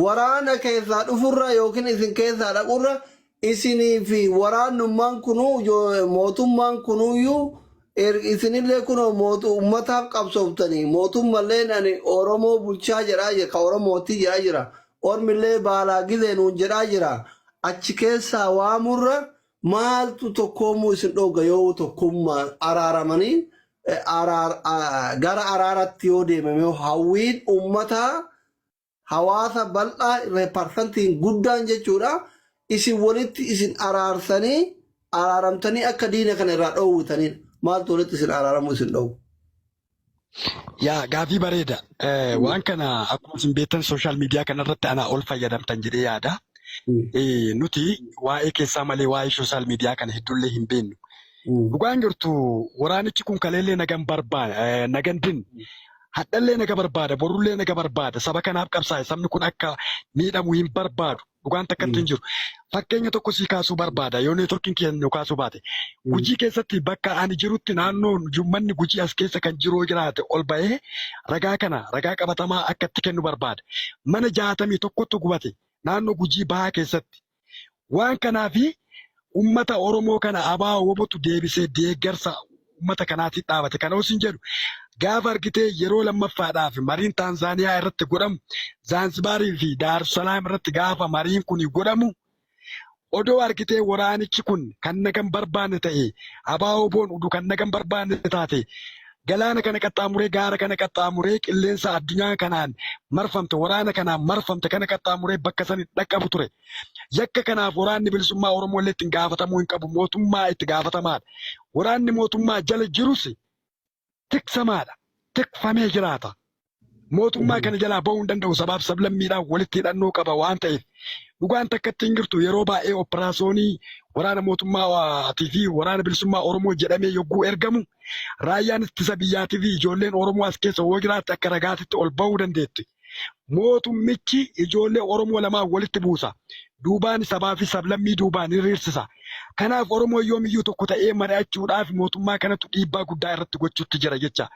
Waraana keessaa dhufurra yookiin isin keessaa dhaqurra isinii fi waraannummaan kunuu mootummaan kunuuyyuu isinillee kunoo mootu ummataaf qabsooftanii mootummalleen ani Oromoo bulchaa jedhaa jira ka Oromootti jedhaa jira ormillee baalaa gizee nuun jedhaa jira achi keessaa waamurra maaltu tokkoomuu isin dhoogga yoo tokkummaa araaramanii gara araaratti yoo deemame hawwiin ummataa hawaasa bal'aa irra parsantiin guddaan jechuudha isin walitti isin araarsanii araaramtanii akka diina kana irraa dhoowwitaniin maaltu walitti isin araaramuu isin dhoowwu. Yaa gaafii bareeda. Eh, Waan kana akkuma isin beektan sooshaal miidiyaa kanarratti anaa ol fayyadamtan jedhee yaada. Eh, Nuti waa'ee keessaa malee waa'ee sooshaal miidiyaa kana hedduullee hin beeknu. Dhugaan jirtu waraanichi kun kaleellee nagan barbaa eh, nagan din hadhallee naga barbaada borullee naga barbaada saba kanaaf qabsaa'e sabni kun akka miidhamu hin barbaadu dhugaan takkatti hin jiru fakkeenya tokko sii kaasuu barbaada yoo neetworkiin kiyya nu kaasuu baate gujii keessatti bakka ani jirutti naannoon ummanni gujii as keessa kan jiru yoo jiraate ol ba'ee ragaa kana ragaa qabatamaa akka itti kennu barbaada mana jaatamii tokkotu gubate naannoo gujii bahaa keessatti Waan kanaaf ummata Oromoo kana abaa wobotu deebisee deeggarsa ummata kanaatiin dhaabate. Kana osin jedhu gaafa argitee yeroo lammaffaadhaaf mariin Taanzaaniyaa irratti godhamu Zaanzibaarii fi Daarussalaam irratti gaafa mariin kun godhamu odoo argitee waraanichi kun kan nagan barbaanne ta'e abaa woboon udu kan nagan barbaanne taate Galaana kana qaxxaamuree, gaara kana qaxxaamuree, qilleensa addunyaa kanaan marfamte, waraana kanaan marfamte kana qaxxaamuree bakka san hin dhaqqabu ture. Yakka kanaaf Waraanni Bilisummaa Oromoo illee ittiin gaafatamuu hin qabu. Mootummaa itti gaafatamaadha. Waraanni mootummaa jala jirus tiksamaadha. Tikfamee jiraata. Mootummaa kana jalaa bahuu hin danda'u sabaaf sablammiidhaan walitti hidhannoo qaba waan ta'eef dhugaan takka itti hin jirtu yeroo baay'ee operaasyoonii waraana mootummaatii fi waraana bilisummaa Oromoo jedhamee yogguu ergamu raayyaan ittisa biyyaatii fi ijoolleen Oromoo as keessa yoo jiraatte akka ragaatitti ol bahuu dandeetti. Mootummichi ijoollee Oromoo lamaan walitti buusa. duubaan sabaa fi sablammii duubaan hiriirsisa. Kanaaf Oromoon yoomiyyuu tokko ta'ee mari'achuudhaaf mootummaa kanatu dhiibbaa guddaa irratti gochuutti jira jecha.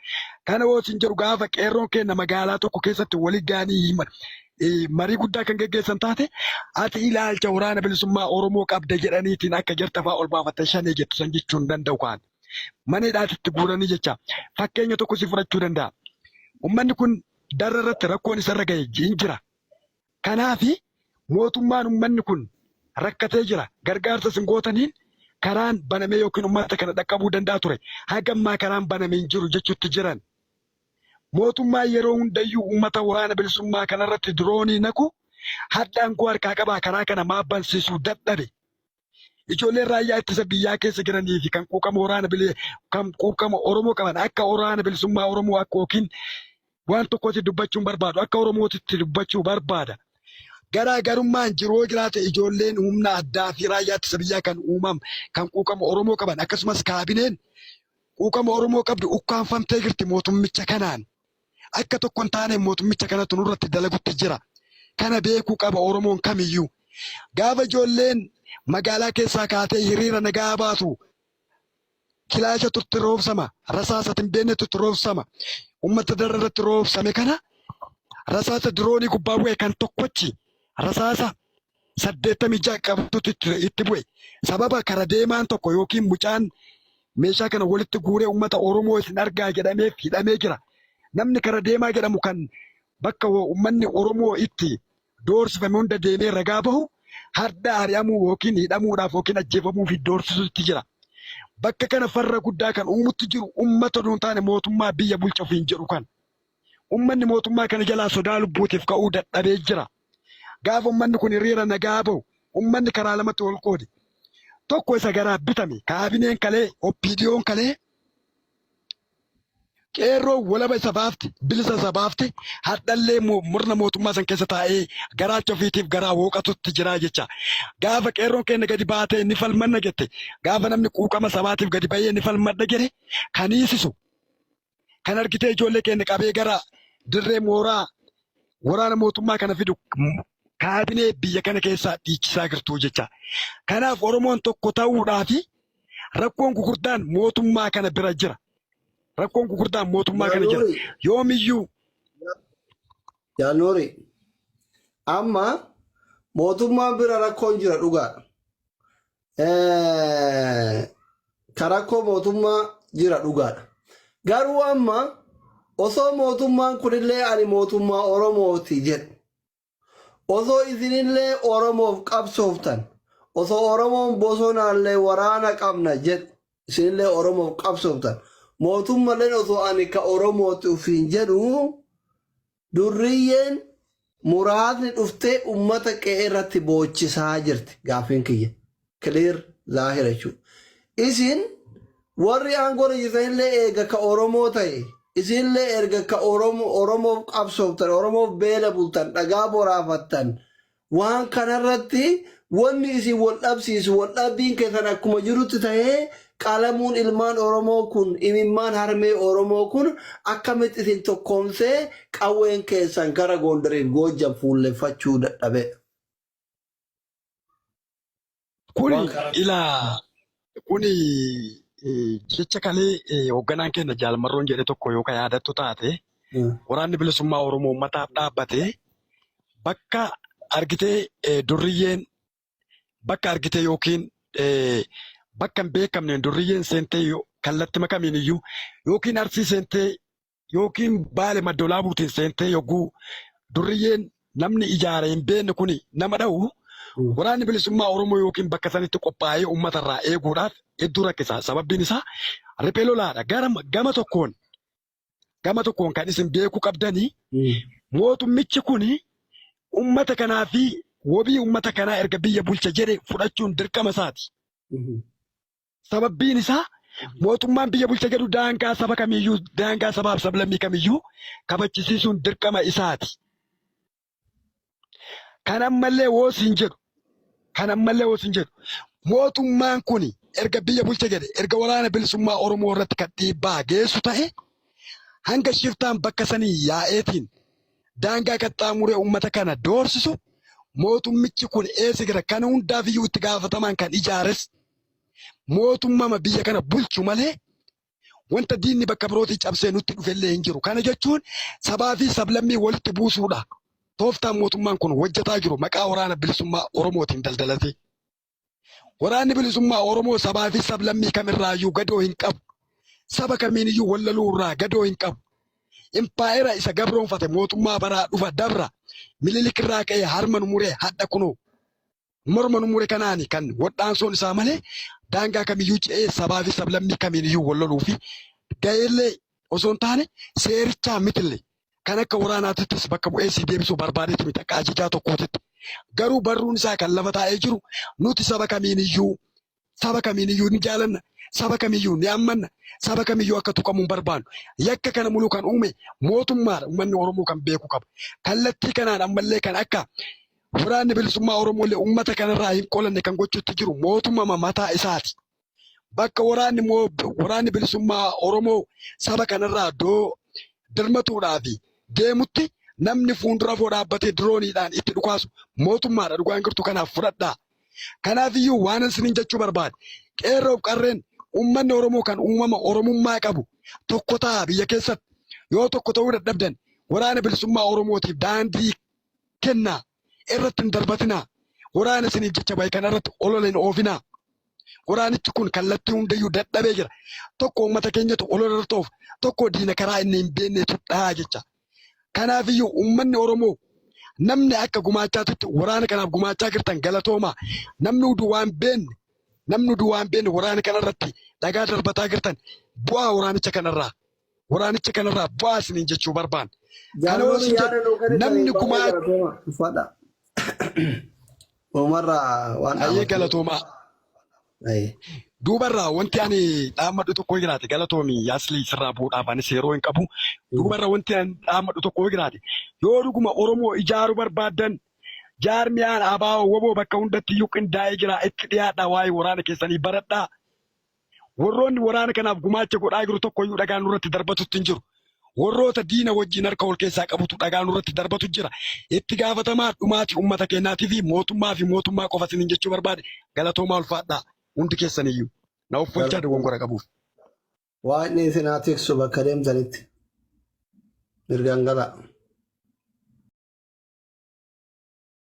Kana yoo isin jedhu gaafa qeerroon keenya magaalaa tokko keessatti walitti ga'anii marii guddaa kan geggeessan taate ati ilaalcha waraana bilisummaa Oromoo qabda jedhaniitiin akka jarta fa'aa ol baafattee shanee jettu san jechuu hin danda'u kaan. Mana hidhaatitti guuranii jecha. Fakkeenya tokko si fudhachuu danda'a. Uummanni kun darra irratti rakkoon isarra ga'e hin jira. Kanaaf mootummaan ummanni kun rakkatee jira. Gargaarsa isin gootaniin karaan banamee yookiin ummata kana dhaqqabuu danda'a ture. Haga ammaa karaan baname hin jiru jechuutti jiran. Mootummaan yeroo hundayyuu ummata waraana bilisummaa kanarratti diroonii naqu hadha aangoo harkaa qabaa karaa kana maaf bansiisuu dadhabe? Ijoolleen raayyaa ittisa biyyaa keessa jiranii fi kan quuqama waraana bilee kan quuqama Oromoo qaban akka waraana bilisummaa Oromoo akka yookiin waan tokkotti dubbachuun barbaadu akka Oromootitti dubbachuu barbaada. Garaagarummaan jiru yoo jiraate ijoolleen humna addaa fi raayyaa ittisa biyyaa kan uumam kan quuqama Oromoo qaban akkasumas kaabineen quuqama Oromoo qabdu ukkaanfamtee jirti mootummicha kanaan. akka tokko hin taane mootummicha kanatu nurratti dalagutti jira. Kana beekuu qaba Oromoon kamiyyuu. Gaafa ijoolleen magaalaa keessaa kaatee hiriira nagaa baatu kilaasha turte roobsama, rasaasa hin beekne turte roobsama. Uummata darra irratti roobsame kana rasaasa diroonii gubbaa bu'e kan tokkochi rasaasa 86 qabatutti ture itti bu'e. Sababa kara deemaan tokko yookiin mucaan meeshaa kana walitti guuree uummata Oromoo isin argaa jedhameef hidhamee jira. Namni kara deemaa jedhamu kan bakka uummanni Oromoo itti doorsifame hunda deemee ragaa bahu hadda ari'amuu yookiin hidhamuudhaaf yookiin ajjeefamuu fi doorsisuutti jira. Bakka kana farra guddaa kan uumutti jiru uummata duun taane mootummaa biyya bulcha ofiin jedhu kan. Ummanni mootummaa kana jalaa sodaa lubbuutiif ka'uu dadhabee jira. Gaafa ummanni kun hiriira nagaa bahu ummanni karaa lamatti wal qoode. Tokko isa garaa bitame kaabineen kalee OPDOn kalee qeerroo walaba isa baafte bilisa isa baafte hadhallee murna mootummaa san keessa taa'ee garaacha ofiitiif garaa wooqatutti jiraa jecha gaafa qeerroon keenya gadi baatee ni falmanna jette gaafa namni quuqama sabaatiif gadi ba'ee ni falmadha jedhe kaniisisu kan argitee ijoollee keenya qabee gara dirree mooraa waraana mootummaa kana fidu kaabinee biyya kana keessaa dhiichisaa jirtu jecha. Kanaaf Oromoon tokko ta'uudhaa fi rakkoon gugurdaan mootummaa kana bira jira. Rakkoon gugurdaan mootummaa kana jira. Yoomiyyuu. Jaannoori. Amma mootummaan bira rakkoon jira dhugaadha. ka rakkoo mootummaa jira dhugaadha. Garuu amma osoo mootummaan kunillee ani mootummaa Oromooti jedhu osoo isinillee Oromoof qabsooftan osoo Oromoon bosonaallee waraana qabna jedhu isinillee Oromoof qabsooftan mootummalleen osoo ani ka Oromooti ofiin jedhu Durriyyeen muraasni dhuftee ummata qe'ee irratti boochisaa jirti. Gaaffiin kiyya clear zaahira jechuudha. Isin warri aangoo irra jirtan illee eega ka Oromoo ta'e, isin illee erga ka Oromo- Oromoof qabsooftan, Oromoof beela bultan, dhagaa boraafattan, Waan kana irratti wanni isin wal dhabsiisu wal dhabbiin keessan akkuma jirutti tahee qalamuun ilmaan Oromoo kun imimmaan harmee Oromoo kun akkamitti isin tokkoomsee qawween keessan gara Goondariif Goojjam fuulleffachuu dadhabee? Kuni Waan kana ilaa kuni eh, jecha kalee eh, hoogganaan keenya jaalmarroon jedhe tokko yoo ka yaadattu taate Mm. waraanni bilisummaa Oromoo uummataaf dhaabbate bakka argitee eh, durriyyeen bakka argitee yookiin eh, bakka hin beekamneen durriyyeen seentee yoo- kallattima kamiin iyyuu yookiin arsii seentee yookiin baale maddoolaabuutiin seentee yogguu durriyyeen namni ijaaree hin beekne kun nama dha'u waraanni bilisummaa Oromoo yookiin bakka sanitti qophaa'ee uummata irraa eeguudhaaf hedduu rakkisa. Sababbiin isaa riphee lolaadha. Gama tokkoon gama tokkoon kan isin beekuu qabdani mootummichi kun uummata kanaa fi wabii uummata kanaa erga biyya bulcha jedhe fudhachuun dirqama isaati. Sababbiin isaa mootummaan biyya bulcha jedhu daangaa saba kamiiyyuu, daangaa sabaaf sablammii kamiyyuu kabachisiisuun dirqama isaati. Kan ammallee woo siin jedhu, kan ammallee woo siin jedhu, mootummaan kun erga biyya bulcha jedhe, erga waraana bilisummaa Oromoo irratti kan dhiibbaa geessu ta'e, hanga shiftaan bakka sanii yaa'eetiin daangaa qaxxaamuree uummata kana doorsisu mootummichi kun eessa jira? Kana hundaafiyyuu itti gaafatamaan kan ijaares mootummaa biyya kana bulchu malee wanta diinni bakka birootii cabsee nutti dhufellee hin jiru. Kana jechuun sabaa fi sablammii walitti buusuudha. Tooftaan mootummaan kun hojjetaa jiru maqaa waraana bilisummaa Oromootiin daldalatee. Waraanni bilisummaa Oromoo sabaa fi sablammii kamirraayyuu gadoo hin qabu. Saba kamiiniyyuu wallaluu irraa gadoo hin qabu. Impaayera isa gabroonfate mootummaa baraa dhufa dabra mililikirraa ka'ee harma nu muree hadha kunoo. morma nu mure kanaani kan wadhaansoon isaa malee daangaa kamiyyuu ce'ee sabaa fi sablammii kamiiniyyuu wal loluu fi ga'eellee osoo hin taane seerichaa mitille kan akka waraanaatittis bakka bu'ee si deebisuu barbaadetti miti akka ajajaa tokkootitti garuu barruun isaa kan lafa taa'ee jiru nuti saba kamiiniyyuu Saba kamiiniyyuu ni jaalanna, saba kamiyyuu ni ammanna, saba kamiyyuu akka tuqamu hin barbaannu. Yakka kana muluu kan uume mootummaadha. Ummanni Oromoo kan beeku qaba. Kallattii kanaan ammallee kan akka waraanni bilisummaa Oromoollee ummata kanarraa hin qolanne kan gochuutti jiru mootumama mataa isaati. Bakka waraanni waraanni bilisummaa Oromoo saba kanarraa doo dirmatuudhaaf deemutti namni fuundura foo dhaabbatee dirooniidhaan itti dhukaasu mootummaadha. Dhugaan jirtu kanaaf fudhadhaa. Kanaafiyyuu waanan isiniin jechuu barbaade qeerroof qarreen uummanni Oromoo kan uumama Oromummaa qabu tokko ta'a biyya keessatti yoo tokko ta'uu dadhabdan waraana bilisummaa Oromootiif daandii kennaa irratti hin darbatinaa waraana isiniif jecha bahe kana irratti olola hin oofinaa waraanichi kun kallattii hundayyuu dadhabee jira tokko uummata keenyatu olola irratti oofa tokko diina karaa inni hin beeknetu dhahaa jecha Kanaafiyyuu uummanni Oromoo namni akka gumaachaa turte waraana kanaaf gumaachaa jirtan galatoomaa. Namni udu waan beenne namni udu waan beenne waraana kanarratti dhagaa darbataa jirtan bu'aa waraanicha kanarraa waraanicha kanarraa bu'aa isiniin jechuu barbaan. Kana yoo isin jedhu namni gumaa Umarraa waan hayyee galatoomaa. Duubarraa wanti ani dhaammadhu tokko jiraate galatoomi yaaslii sirraa bu'uudhaaf anis yeroo hin qabu. Duubarra wanti ani dhaammadhu tokko jiraate yoo dhuguma Oromoo ijaaru barbaaddan jaarmiyaan abaa'oo waboo bakka hundatti iyyuu qindaa'ee jira itti dhiyaadhaa waa'ee waraana keessanii baradhaa. Warroonni waraana kanaaf gumaacha godhaa jiru tokko iyyuu dhagaan nurratti darbatutti hin jiru. warroota diina wajjin harka wal keessaa qabutu dhagaa nurratti darbatu jira. Itti gaafatamaa dhumaati ummata keenyaatiif mootummaa fi mootummaa qofa isiniin jechuu barbaade galatoomaa ulfaadhaa hundi keessaniyyuu na offolchaa dogoggora qabuuf. Waaqni isin haa tiksu bakka deemtanitti. Mirgaan galaa.